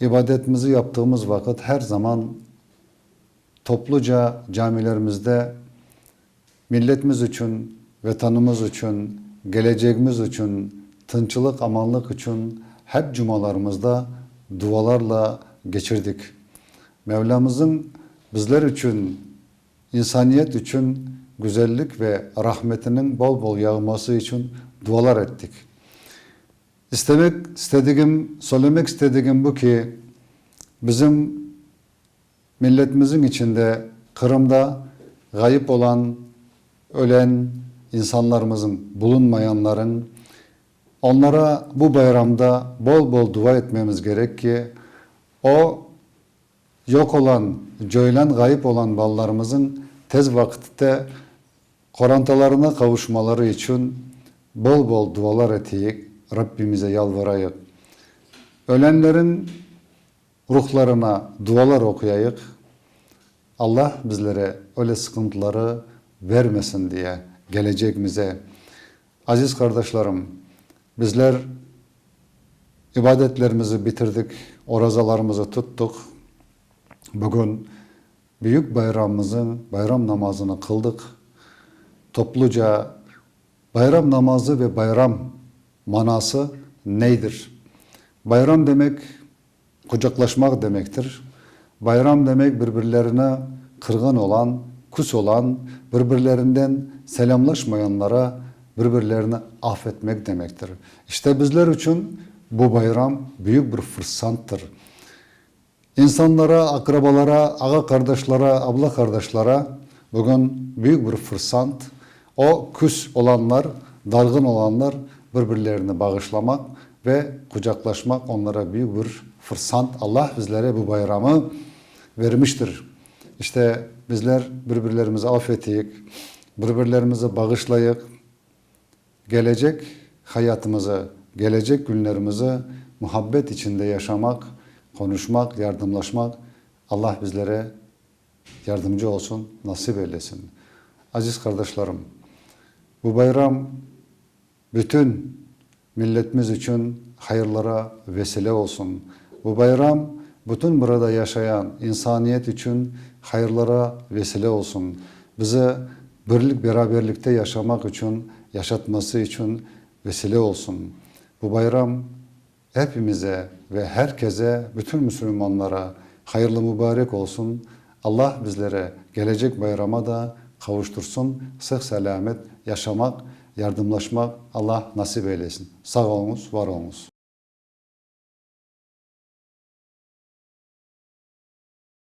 İbadetmizi yaptığımız vaqıt her zaman topluca camilerimizde milletimiz içün, Vetanımız içün, gelecegimiz içün, tınçlıq, amanlıq içün hep cumalarımızda dualarla geçirdik. Mevlamızıñ bizler içün, insaniyet içün güzellik ve rahmetiniñ bol-bol yağması içün dualar ettik. İstemek istedigim, söylemek istedigim bu ki, bizim milletimiziñ içinde, Qırımda ğayıp olan, ölen insanlarımızıñ, bulunmayanlarıñ, onlara bu bayramda bol-bol dua etmemiz gerek ki, o, Yoq olan, coylan ğayıp olan balalarımızıñ tez vaqıtte qorantalarına qavuşmaları içün bol-bol dualar eteyik, Rabbimize yalvarayıq. Ölenleriñ ruhlarına dualar oquyayıq, Alla bizlere öyle sıqıntıları bermesin diye, gelecegimize. Aziz qardaşlarım, bizler ibadetlerimizi bitirdik, orazalarımızı tuttuq, bugün büyük bayramımızın bayram namazını qıldıq. Topluca bayram namazı ve bayram manası neydir? Bayram demek, Qucaqlaşmaq demektir. Bayram demek bir-birlerini qırğın olan, küs olan, bir-birlerinden selâmlaşmayanlara bir-birlerini af etmek demektir. İşte bizler içün bu bayram büyük bir fırsattır. İnsanlara, aqrabalara, ağa-qardaşlara, abla-qardaşlara bugün büyük bir fırsat, O, küs olanlar, darğın olanlar bir-birlerini bağışlamaq ve qucaqlaşmaq onlara büyük bir fırsant. Allah bizlere bu bayramı vermiştir. İşte, bizler bir-birlerimizi af eteyik, bir-birlerimizi bağışlayıq, gelecek hayatımızı, gelecek günlerimizi muhabbet içinde yaşamaq, qonuşmaq, yardımlaşmaq Allah bizlere Yardımcı olsun, nasip eylesin. Aziz qardaşlarım, bu bayram bütün milletimiz içün hayırlara vesile olsun. Bu bayram bütün burada yaşayan insaniyet içün hayırlara vesile olsun. Bize birlik, beraberlikte yaşamaq içün, yaşatması içün vesile olsun. Bu bayram Epimize ve her keze bütün müsülmanlara hayırlı mübarek olsun, Allah bizlere gelecek bayrama da qavuştursın, sıh selâmet yaşamaq, yardımlaşmaq Allah nasip eylesin. Sağ oluñız, var oluñız.